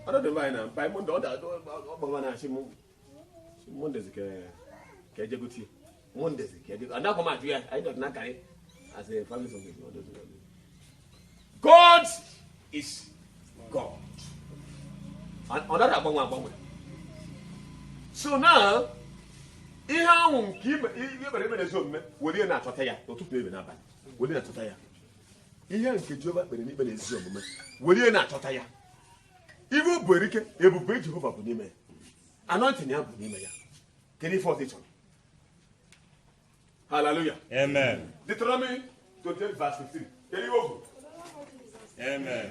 ọdọdụ anyị na mpa monde ọ gbaba na-achị m mondezi ka ejegotie mondezi ka ejegotie adakwa m ajụ ya anyị dọtụ n'akarị as a family song ọdọdụ God is God ọ nara agbanwe agbanwe so now ihe ahụ nke i kpere ekpere n'ezi omume were na-achọta ya ụtụtụ ebe n'abalị were na-achọta ya ihe nke Jehova kpere ekpere na ezi omume were na-achọta ya ibe ọ bụ erike ebube Jehova bụ n'ime ya anointing ya bụ n'ime ya kedu ife ọzọ ị chọrọ haleluya amen Deuteronomy 28 verse 15 kedu ihe o kwuru amen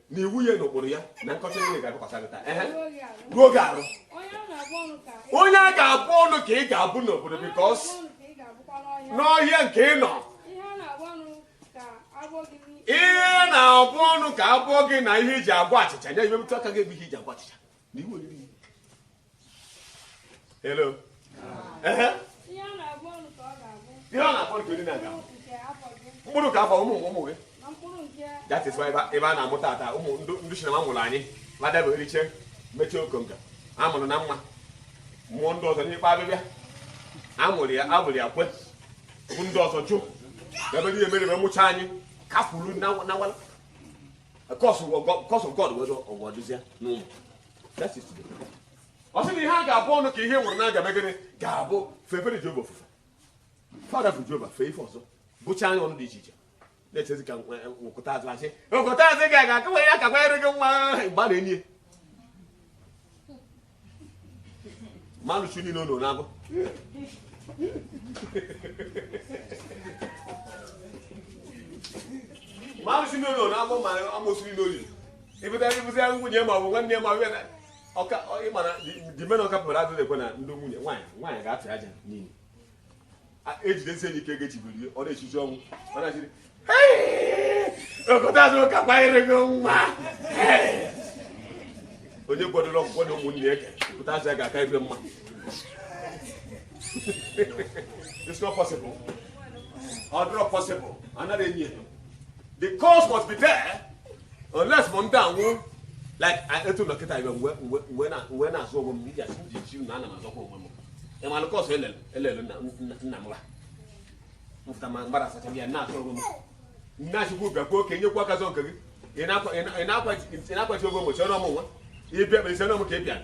na iwu ya na ụkpụrụ ya na nkọcha niile ga-abịakwasị gị taa ehe ruo gị arụ onye a ga-abụ ọnụ ka ị ga-abụ n'obodo because n'ọhịa nke ị nọ ihe na-abụ ọnụ ka abọ gị na ihe iji agwa achịcha nye ibe aka gị ebe ihe iji agwa achịcha na ihe oriri Hello. Ehe. Ihe a na-abụ ọnụ ka ọ ga-abụ. Ihe ọ na-akpọ nke niile aga. Mkpụrụ nke afọ gị. Mkpụrụ nke afọ ụmụ ụmụ gị. Na mkpụrụ nke That is why ebe a- ebe a na-amụ tata ụmụ ndị ndị sinima mụrụ anyị madaba eriche mechie okonko a mụrụ na mmanwụ ndị ọzọ n'ekpe abịbịa a mụrụ ya a mụrụ ya kwe bụ ndị ọzọ jụ ebe niile mere ebe mụcha anyị kafuru na na wala curse curse God wee ọgwọ dụzia n'ụmụ ọ sị na ihe a ga-abụ ọnụ ka ihe nwụrụ na-agabe gịnị ga-abụ fefere Jehova ofufe fa rapụ Jehova fee ife ọzọ bụcha anyị ọnụ dị iche iche na-echezi ka nwekọta azụ achị nwekọta azụ ga aga akụwa ya ka kwanyere gị nwa mgbe a na-enye mmanụ chi niile ụlọ na-abụ mmanụ chi niile ụlọ na-abụ ma amụsụ niile olili ịbụtara ịbụzi ya nwunye ma ọ bụ nwanne ma ọ bụ ọka ịmara dimena ọka pụrụ adịghị ekwe na ndị nwunye nwaanyị nwaanyị ga-atụ aja n'iyi ejidesi enyi ike ga-echibiri ọ na-echichi ọnwụ ọ na-achiri okọta azụ ụka kwanyere gị nwa onye kwadoro ọgwụgwọ na ụmụnne ya pụta azụ ya ga-aka ebe mma it's not possible ọ dịrọ possible anaghị enyi ya the curse must be there unless m ndị anwụ like etu dọkịta ibe mgbe na-azọ onwe m iji asị m ji chi na ana m azọkwa onwe m ịmalụ curse elele nna m ha mfụta ma mgbara asacha ya na-azọ onwe m nne achịkwa bịakwa nwoke nyekwa aka zọ nke gị ị na-akwachi ogo mgbochi ọnụ ọmụnwa ịbịa kperisi ọnụ m ka ị bịara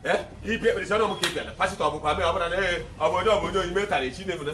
ee ịbịa kperisi ọnụ m ka ị bịara pastor ọ bụkwa mee ọ bụla na ee ọ bụ onye ọ bụ onye oyi metara echi na-emena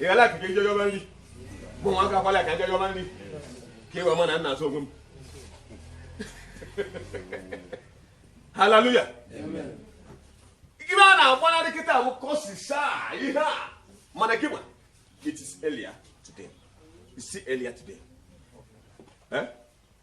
ị gala akụkọ ije yọba nri mụ nwa aka kwala ka ije yọba nri ka i wee ma na m na-azụ onwe m haleluya ibe a na-agbanarị kịta bụ kọsisa ihe a mana gị ma it is earlier today you see earlier today eh?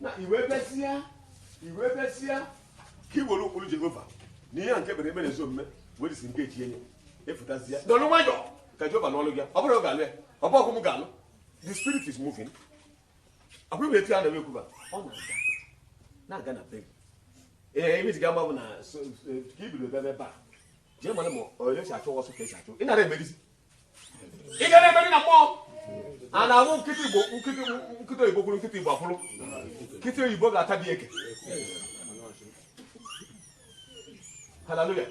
na i wee besịa i wee besịa ka i were ụkpụrụ jehova na ihe a nke kpere ekpere ezi omume wee dịsi nke echi enye efutazie dọrọ nwayọ ka jehova nụọlụ gị ọ bụrụ na ọ ga-alụ ya ọ bụ ọgụ m ga-alụ the spirit is moving akwa iwe etu ya na ekwuba ọ na-aga na-aga na be ee ebe ji ga-agba bụ na so- so- ka ibido bebe ebe a jee mara ma onye si achụ ọsọ ka esi achụ ị nara emerizi ị ga na-emeri na mmụọ a na-ahụ nkịta igbo nkịta nkịta oyibo kwụrụ nkịta igbo akwụrụ nkịta oyibo ga-ata dị eke haleluya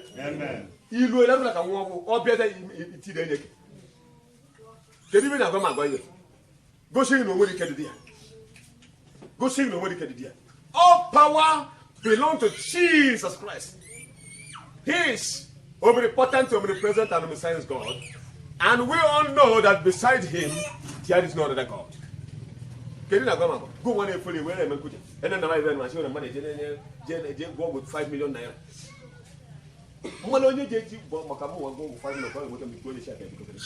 ilu ele bụla ka nwa ọgwụ ọ bịa iti na-enye gị kedu ibe na-agwa m agwa ihe Gosi na onwere ike dị ya. Gosi na onwere ike dị ya. All power belong to Jesus Christ. He is omnipotent, omnipresent, and omniscient God. And we all know that beside him, there is no other God. kedu na agwa go nwa na-efere iwe na-eme nkuja ene na maịbel na chịwere mmadụ eje gwọ ọgwụ 5 million naira mana onye ga-eji gwọ maka mụ nwa gwọ ọgwụ 5 million ka ọ ga-enweta mgbe ikwu onye chi aka ebikọtara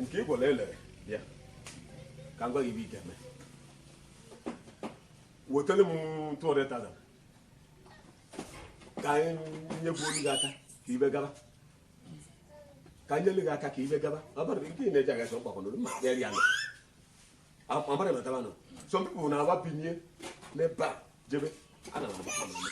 nke ị gwara elere bịa ka m gwa gị ibe ị ga-eme wetelu m 200,000 ka anyị nyebuo gị aka ka ibe gaba ka nyelu gị aka ka ibe gaba ọbara nke ị na-eji aga sọ mkpakọnụrụ ma kpere ya nọ amara mataba nọ some people na-agba binye n'ebe a jebe ana m agba ha n'ụlọ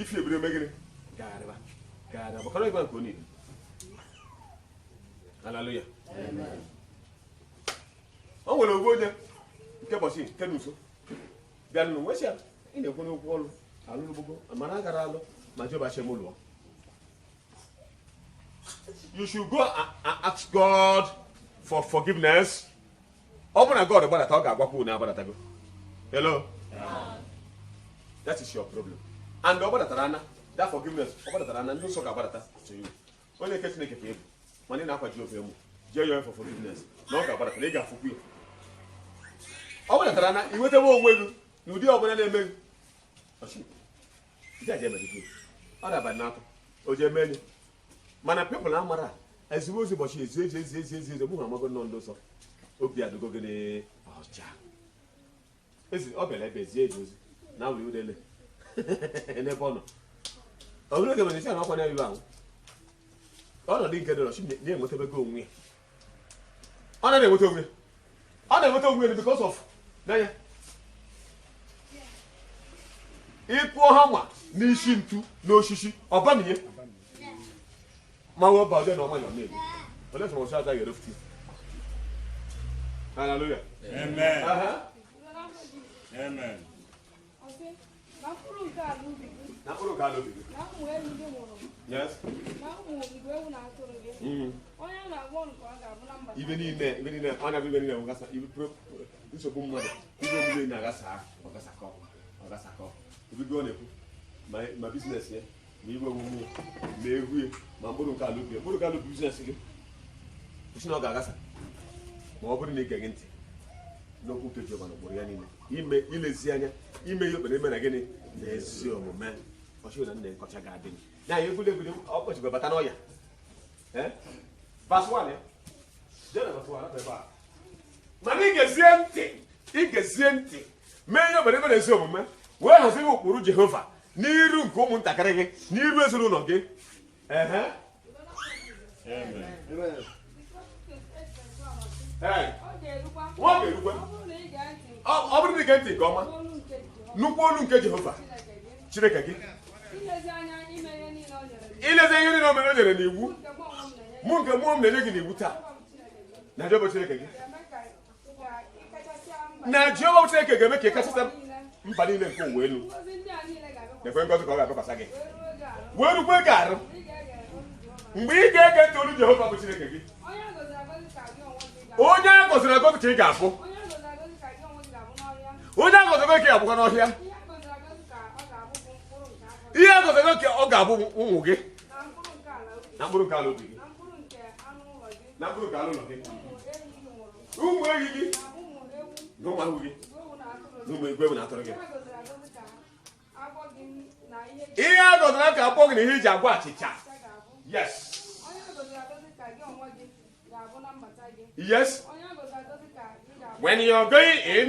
ifi ebire megịrị gagharịba gagharịba gbakọrọ ịgwa nke onye haleluya o nwere ogbu onye nke ụbọchị nke na nso bịa nụ nwesị ya ị na-ekwu n'okwu ọrụ alụrụ gbogbo mana a gara alụ ma jehova chem ụlọ you should go and ask god for forgiveness ọ bụrụ na god gbadata ọ ga-agwakwa unu agbadatago hello that is your problem and ọ gbadatara ana that forgiveness ọ gbadatara ana ndị nsọ ga-agbadata to you onye nke chineke ka ebu mana ị na-akwa jehova emu jee yọọ for forgiveness na ọ ga-agbadata na ị ga-afụkwu ya ọ gbadatara ana ị nwetawa onwe gị na ụdị ọbụla na-eme gị ọchị ndị a ga-emegide ọ dabara n'akwa o ji eme enyi mana people amara ezigbo ozi ụbọchị ezi eji ezi ezi ezi ezi mụnwa amago nnọọ ndị nsọ obi adịgo gị ọcha ezi ọ bịara ebe ezie eji ozi na a hụrụ udele n'ebe ọ nọ ọ bụrụ oge mere isi a na ọkwa na-ebibe ahụ ọnọdụ nke dọrọ chi na-enwetabego onwe ya ọ na na-enweta onwe ọ na-enweta onwe ya because of n'anya ị kụọ hammer n'isi ntu n'osisi ọ bamie ma wee ba ọjọọ na ọma ya ọ na-eme olee sọrọ ọsọ agaghị erefuti haleluya Amen. Aha. Amen. ife niile ife niile ọ na-abụ ife niile ọ gasa ife nsogbu mmadụ ife omume na-agasa ọ gasakọ ọ gasakọ obibi ọ na-ekwu ma business ya ma iwe wume ma ehi ya ma mkpụrụ nke ala ubi mkpụrụ nke ala ubi business gị ọ sị na ọ ga-agasa ma ọ bụrụ na ị geghị ntị n'okwu nke Jehova na ụkpụrụ ya niile ime ilezi anya ime ihe e kpere n'ikpe na gịnị na ezi omume ọ sị na nkọcha ga-adị m ya anyị egwuregwu egwuregwu ọkọchị bata n'ọya verse one jena verse one ebe a mana ị gezie ntị ị gezie ntị mee ihe e kpere n'ikpe na ezi omume wee hazie ụkpụrụ Jehova n'iru nke ụmụntakịrị gị n'iru ezinụlọ gị ọ bụrụ na i gee ntị nke ọma n'olu nke Jehova Chineke gị ilezi ihe niile o mere o nyere n'iwu mụ nke mụ onwe m na-enye gị n'iwu taa na Jehova Chineke gị na jehova chineke ga-eme ka ị kachasị mba niile nke ụwa elu na-ekwe ngọzi ka ọ ga-abịakwasị gị wee rukwe gị arụ mgbe ị ga-ege ntị olu jehova bụ chineke gị onye a gọziri agọzi ka ị ga-abụ onye a gọziri agọzi ka ị ga-abụkwa n'ọhịa ihe a gọziri agọzi ka ọ ga-abụ ụmụ gị na mkpụrụ nke ala ubi gị na mkpụrụ nke anụ ụlọ gị ụmụ ehi gị na ụmụ ewu gị na ụmụ igwe na atụrụ gị ihe a gọziri ka abọ gị na ihe e ji agwa achịcha yes yes when you are going in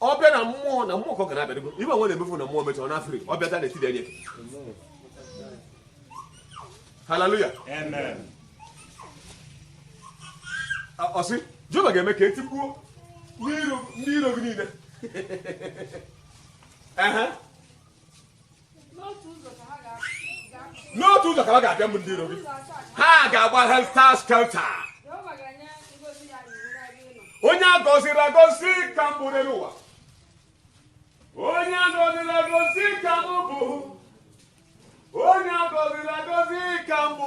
ọ bịa na mmụọ na mmụọ ka ọ ga na-abịa ife nwe na-emefu na mmụọ mechara na afri ọ bịata na etiri enye haleluya ọ sị jehova ga-eme ka e tigbuo ndị iro gị niile n'otu ụzọ ka ha ga-abịa mbụ ndị iro gị ha ga-agba helter skelter onye a gọziri agọzi ka m bụ n'elu ụwa onye a gọziri agọzi ka m bụ bụ onye a gọziri agọzi ka m bụ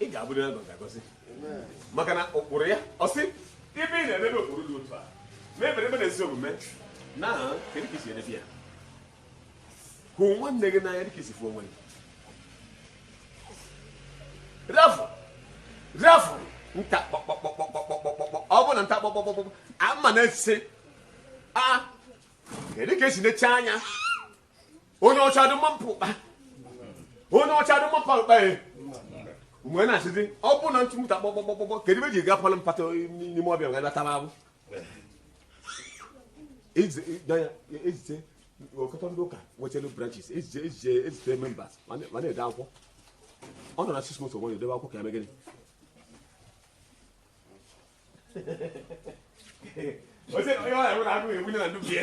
ị ga-abụrịrị agọzi agọzi maka na ụkpụrụ ya ọ sị ibe ị na-edebe ụkpụrụ dị otu a ma ebere ebe na ezi omume na kedu ka e si edebe ya hụ nwanne gị n'anya dịka i si fụ onwe gị rafụ rafụ nta kpọkpọkpọkpọkpọkpọkpọ ọ bụ na nta kpọkpọkpọkpọ ama na-ese a kedu ka e si neche anya onye ọcha dị mma mpụkpa onye ọcha dị mma mpụkpa ya mgbe na-asịzi ọ bụ na ntụmụta kpọkpọkpọkpọ kedu ebe ji ga palụ mpata n'ime ọbịa ga batara abụ ezite ọkọtọ ndị ụka nwechelu branches ezite ezite ezite members ma na-ede akwụkwọ ọ nọ na six months onwe ya edebe akwụkwọ ka ya megịnị onye ọ ya nwere agụghị egbu na ndụ bie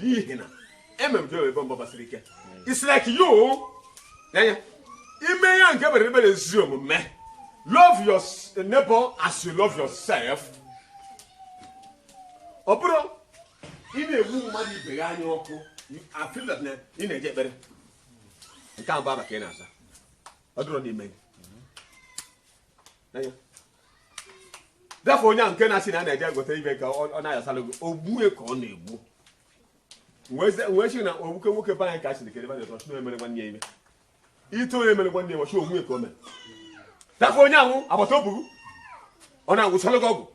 n'ihi na emere m ebe mba gbasiri ike it's like you anya ime ya nke mere ebere ezi omume love your neighbor as you love yourself ọ bụrụ ị na-ebu mmadụ ibe gị anya ọkụ I feel that na ị na-eje ekpere nke ahụ bụ afa ka ị na-aza ọ dịrọ n'ime gị gafe onye ahụ nke na-asị na a na-eje egote ibe ka ọ na-ayasara gị ogbue ka ọ na-egbu wee sị na ogbuke nwoke be anyị ka a sịrị kere ebe na-eto chụna emere nwanne ya ime ito onye emere nwanne ya ọchụ ogbue ka o mere gafe onye ahụ agbata obugu ọ na-agwọsara gị ọgwụ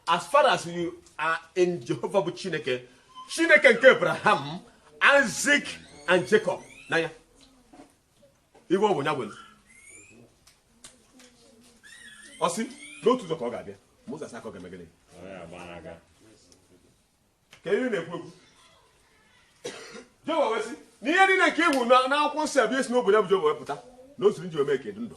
as far as you are in Jehovah bụ Chineke Chineke nke Abraham Isaac and Jacob n'anya igwe ọ bụ ya nwere ọ sị n'otu ụzọ ka ọ ga-abịa ma ụzọ asaa ka ọ ga-eme gịnị ka ihe na-ekwu ekwu Jehova wee sị na ihe niile nke iwu n'akwụkwọ nsọ abịa esi n'obodo ya bụ Jehova wepụta na o siri nji ome ka edu ndụ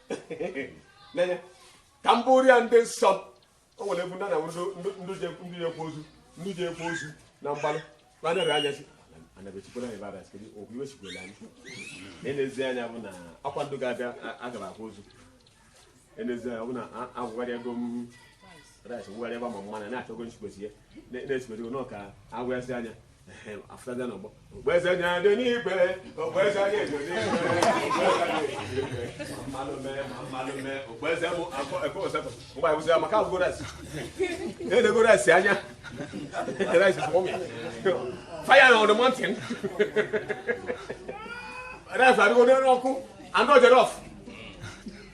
n'anya ka m bụrụ ya ndị nsọ o nwere ebe ndị na ndị jekọ ozu ndị jekọ ozu na mgbalị na anara anya si anabechikwara anyị bara sikiri okwu iwe sikwere anyị na-enezi anya bụ na akwa ndụ ga-abịa agaba akwa ozu enezi anya bụ na agwụgharị ego m rice wụgharị ebe ma mmanụ na-achọgo nsikwesi ya na-esikwesi n'ọka agwụghasị anya fire on the mountain rice adịgo n'elu ọkụ and not jollof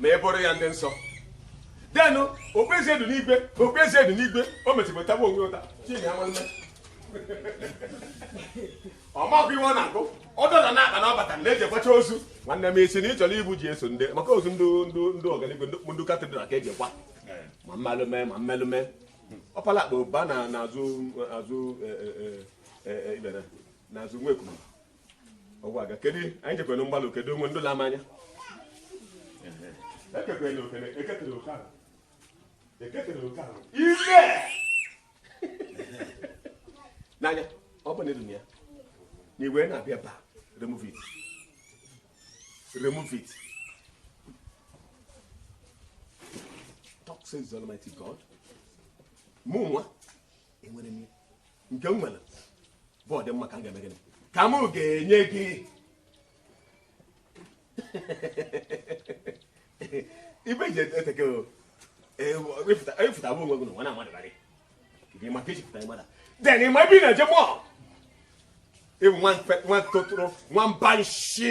na eboro ya ndị nsọ denụ okpueze dị n'igwe okpueze dị n'igwe o mechipụtaba onwe ụta chidi ya nwanne ọ makwa ife ọ na-agụ ọ dọla na akpa na ọ bata na eji akwacha ozu nwanne m ị sị na ị chọrọ ibu ji eso ndị maka ozu ndị ndị ndị ọganiigwe ndị ndị cathedral ka eji akwa ma mmelume ma mmelume ọ pala akpa ụba na n'azụ azụ eh, eh, eh, eh, eh, ibere n'azụ nwa ekwuru ọgwa aga kedu anyị jekwere mgbalụ kedu onwe ndị na-amanya ekekwere okene eketere oke ahụ eketere oke ahụ ime n'anya ọ bụ na edu ya na iwe na-abịa ba remove it remove it thus says almighty god mụ nwa enwere m nke m nwere bụ ọdịmma ka m ga-eme gịnị ka m ga-enye gị ife ị ji eteke ị fụta bụ onwe gị n'ụwa na mmadụ barị gị maka iji pụta mmadụ then ị ma ebe ị na-eje mọl ị bụ nwa tụtụrụ nwa mba nshi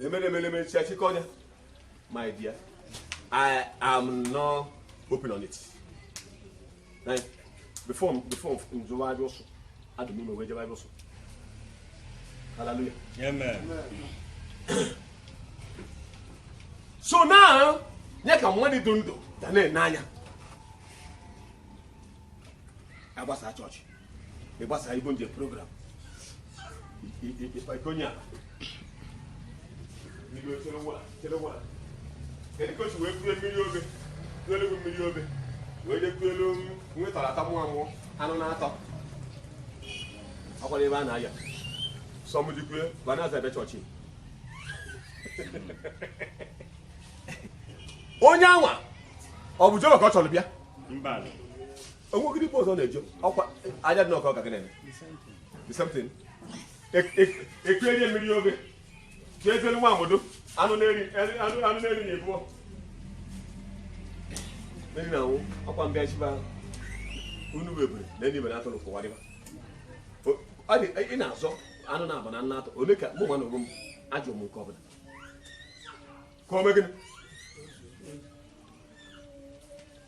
emeremereme chi achịkọ ọnya my dear i am not open on it Like, before before m jebe ABSU adụ m ime wee jebe ABSU hallelujah Amen. so now nye ka mmadụ dị ndụ ga na-ene anya agbasa chọọchị ị gbasara ibo nje program ikonye ala Igwe chere nwa chere nwa kedu ka o si wee kue mmiri ofe kuelu gị mmiri ofe wee je kuelu nwetara ata mụọ amụọ anụ na-atọ akwara ebe a na-aya sọmdikwe banaza ebe chọọchị onye anwa ọ bụ Jehova ka ọ chọrọ bịa mba o nwegodị ebe ọzọ na-eje ọkwa aja dị n'ọkọ ka ọ ga na-eme the same thing ekue rie mmiri ofe ka ezelu nwa amodo anụ na-eri anụ anụ na-eri na ebubo mmiri na anwụ ọkwa mbịa chiba unu bụ ebere na enyi mere atụrụ kụwa dịba O- ọ dị ị na-azọ anụ na-aba na nna atọ ole ka mụ nwa na onwe m ajụ m nke ọbụla ka o mee gịnị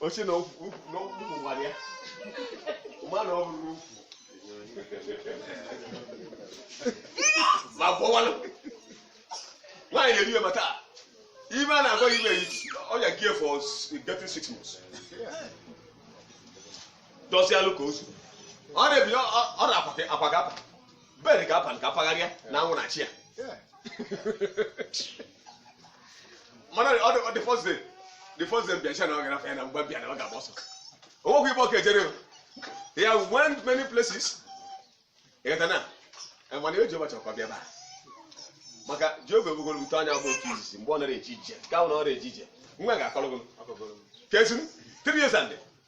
oche na ukwu na ukwu nwara ya ma na ọ bụrụ ukwu ma bọwalụ nwaanyị na-eri ya ma taa ime a na-agwa ime ọya gị for getting six months dọsịalụ ka ozu ọ na-ebi ọ na-akwa gị akwa ga-apa bed ka abalị ka pagharịa na anwụ na chi ya mana ọ dị- ọ the first day the first day bịa chi ya na ọ gara ya na mgbe bịa na ọ ga-agba ọsọ o nwekwa ibe ọka ejere o. ya went many places ịghọta na Eh, mana eji ụbọchị ọkwa bịa ebe a maka Jehova ebugoro ute anya agba oke izizi mgbe ọ nara eji ije ka ọ na ọ na-eji ije nwa ga-akọrọ gị kesịrị three years and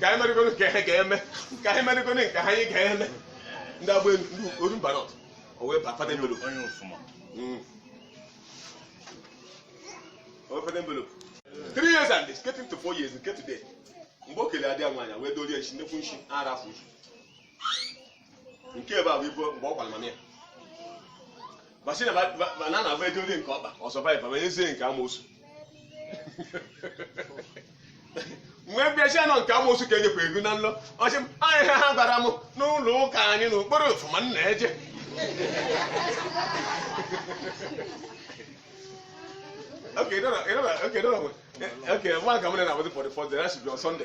ka anyị merịgoro nke ha ga-eme ka anyị merịgoro nke ha anyị ga-eme ndị agba elu ndị Orumba North o wee ba fada envelope onye Ufuma Mm. o wee fada envelope three years and it's getting to four years nke today mgbe o kele adịa nwaanyị wee dorie nshi nnekwu nshi ara afọ nshi nke ebe a bụ ibo mgbe ọ gwara mama ya masị na ba- ba- ba- na na-abụ edo onye nke ọkpa ọ survive ma ezie nke amoosu mgbe mbịacha nọ nke amoosu ka enyekwa ego n'ụlọ ọchị m anyị ha ha gwara m n'ụlọ ụka anyị na okporo Ufuma m na-eje Okay, you don't know, you don't know, okay, you don't know. Okay, one coming in about the first day, that should be on Sunday.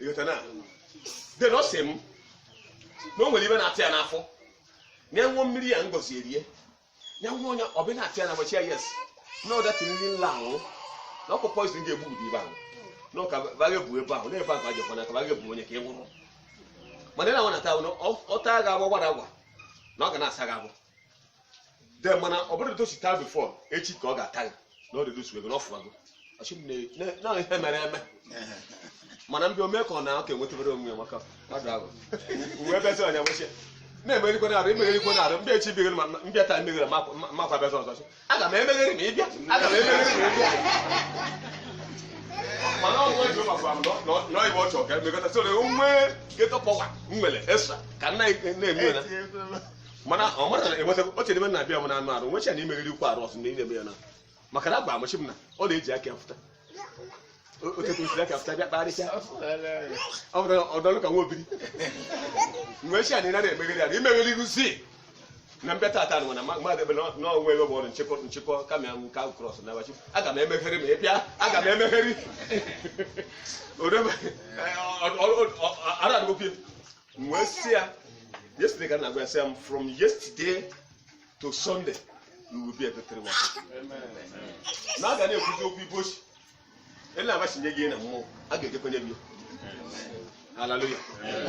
ịghọta na then ọ sị m na o nwere ibe na-ata ya n'afọ na ya ṅụọ mmiri ya ngozi erie ya ṅụọ onye obi na-ata ya na gbachi ya yes na ọ that thing la ahụ na ọkpụ poison ga-egbu ụdị ibe ahụ na ọka baga ebu ebe ahụ na ebe ahụ ajọkwa na ka baga ebu onye ka ị nwụrụ mana ị na-anwụ na taa bụ na ọ- ọ taa ga-agba gbara agwa na ọ ga na-asa gị agbụ then mana ọ bụrụ etu o si taa before echi ka ọ ga-ata gị na ọ redusu ego na ọ fụwago ọ sị m na- na- na ihe mere eme mana mbịa omee ka ọ na ọ ka enwetebere onwe ya maka mmadụ ahụ uwe bezi ọnya nwechie na-emegherikwa na arụ emegherikwa na arụ mbịa echi bigoro ma mbịa taa emeghere makwa bezi ọzọ sị, aga m emeghere ma ị bịa aga m emeghere ma ị bịa mana ọ nwa Jehova gwara m na ọ- na ọ ibe ọ chọrọ ka emekọta so na onwe geto power m nwere esra ka nna na-eme na mana ọ mara na enweta oche n'ime na abịa m na anụ arụ nwecha na-emegherikwa arụ ọ sị na ị na-eme ya na maka na agba amachi m na ọ na-eji aka ya fụta O- otu ka o si aka fụta bịa kparịsịa ọ bụrụ na ọ dọlụ ka nwa obiri mgbe echi a na ị nara emegheri ya na imegheri ruzi na mbịa tata nwa na ma- mmadụ ebe na- na onwe ebe ọ bụrụ nchekwa nchekwa kama m ka cross na abachi aga m emeghere ma ị bịa aga m emeghere orebe ara adịgokwu m wee sị ya yesterday ka m na-agwa ya sị ya m from yesterday to sunday you will be a victory one na a ga na-ekwuzi okwu ibe ochi ele agbachinye gị na mmụọ a ga-ejekwanye gị haleluya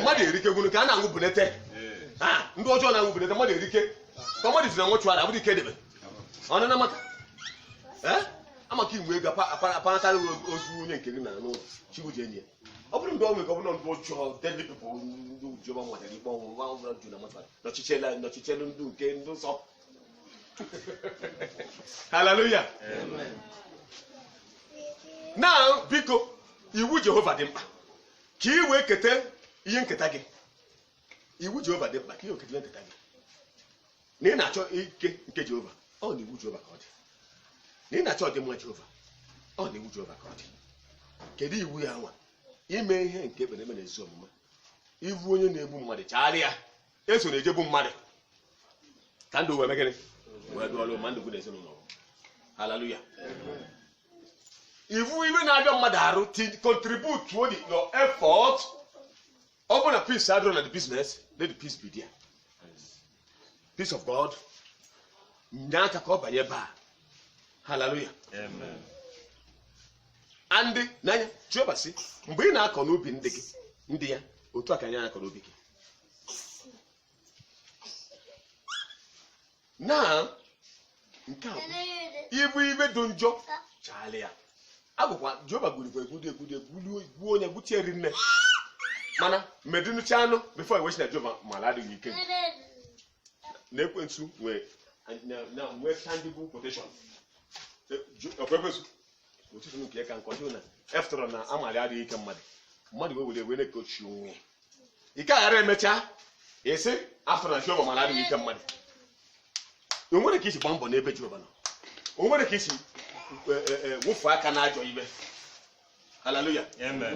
mmadụ erike gwunu ka a na-anwụ bunete Ah, ndị ọjọọ na-anwụ bunete mmadụ erike ka mmadụ si na nwụchụara abụrụ ike debe ọnụ na maka ee amaka inwe ego apa- apa- aparatara ozu onye nke gị na n'ụlọ chigbu ji enyi ya ọ bụrụ mgbe ọ nwere ka ọ bụrụ ndị ọjọọ deadly people ndị ujiọma nwetara ikpe ọnwụ nwa ọbụla ju na mmadụ nọchichela nọchichela ndị nke ndị nsọ haleluya na biko iwu jehova dị mkpa ka ị wee keta ihe nketa gị iwu jehova dị mkpa ka ị wee keta ihe nketa gị na ị na-achọ ike nke jehova ọ n'iwu jehova ka ọ dị na ị na-achọ ọdịmma jehova ọ n'iwu jehova ka ọ dị kedu iwu ya nwa ime ihe nke ekpere eme na ezi omume ị fụ onye na-egbu mmadụ chaara ya esona eje egbu mmadụ ka ndụ wee mee gịnị wee dụọlụ ma ndụ gị na ezinụlọ gị. haleluya ị fụ ife na-abịa mmadụ arụ ti contribute to the- your effort ọ bụrụ na peace adịrọ na the business let the peace be there peace of god nye aka ka ọ banye ebe a haleluya and na nya jehova sị mgbe ị na-akọ n'ubi ndị gị ndị ya otu a ka nya na-akọ n'ubi gị na nke a ị fụ ife dị njọ chaala ya agwụkwa jehova gwurikwa egwudi egwudi egwuo onye gwuchie rinne mana medịnụcha anụ before ewechi na jehova mara adịghị ike na ekwensu nwee nwee standing protection ọkwa ekwensu ụtụtụ nke ka nkọ na after all na ọ malụ adịghị ike mmadụ mmadụ wee were wee na-ekochi onwe ya ike aghara emechaa ị sị after all na jehova mara adịghị ike mmadụ o nwere ka i si gbaa mbọ n'ebe jehova nọ o nwere ka i si e, e, e, wefụ aka n'ajọ ife haleluya Amen.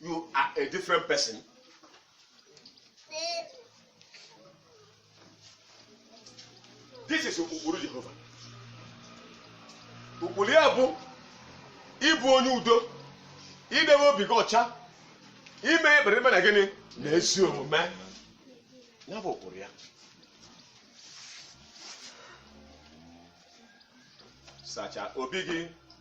you are a different person this is ụkpụrụ jehova ụkpụrụ ya bụ ịbụ onye udo idebe obi gị ọcha ime ekpere ime na gịnị na ezi omume ya bụ ụkpụrụ ya sacha obi gị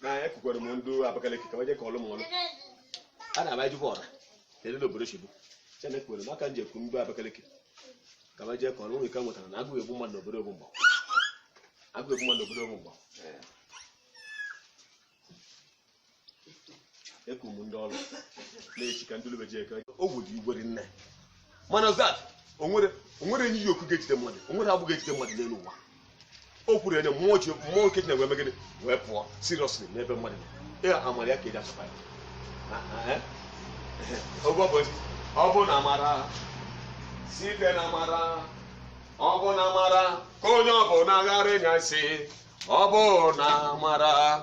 na ekwukwere m ndị abakaliki ka waje ka ọlụ m ọlụ a na-aba ejikwa ọra kedu na obodo chigbu chena ekwukwere m aka m ji ekwu ndị abakaliki ka waje ka ọlụ nwere ike nwetara na agụụ egbu mmadụ n'obodo ogbu mgba agụụ egbu mmadụ n'obodo ogbu mgba ekwu m ndị ọrụ na-echi ka ndị lube ji eke ogwu dị igwe dị nne mana zat o nwere o nwere enyi yi oku ga-ejide mmadụ o nwere agbụ ga-ejide mmadụ n'elu ụwa o kwuru ya na mmụọ ji mmụọ nke Chineke wee mee gịnị wee pụọ seriously n'ebe mmadụ nọ. ya amara ya ka e ji azọpụta ya Ah, ah, eh? Ọ bụ ụbọchị, ọ bụ na amara site na amara ọ bụ na amara ka onye ọ bụna ghara ịnya isi ọ bụ na amara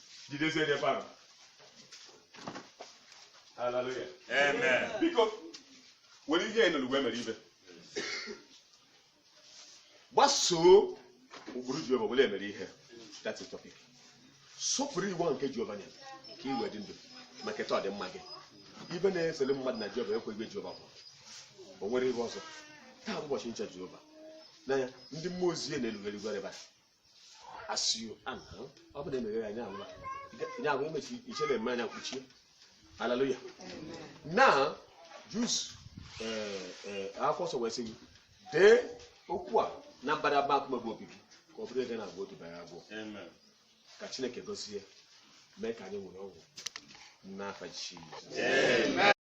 jidezie n'ebe ahụ haleluya Amen. biko were ihe enụrụ wee mere ibe gbasoo ụkpụrụ jehova were eme ihe that's the topic sọpụrụ iwu ahụ nke jehova nyere ka i wee dị ndụ ma keta ọdịmma gị ibe na-esere mmadụ na jehova ekweghị jehova bụ o nwere ihe ọzọ taa bụ ụbọchị ncha jehova n'anya ndị mmụọ ozi ya na-erugharị ebe a a sị ya na ọ bụ na emeghe ya anya anwụla nya anwụ mechi iche na-eme anya mkpuchie haleluya na jus akwụkwọ nsọ wee sị gị dee okwu a na mbadamba nkume bụ obi gị ka ọ bụrụ ego na-agwa otu bara agwọ Amen. ka chineke gozie mee ka anyị nwere ọgwụ n'afa jizọs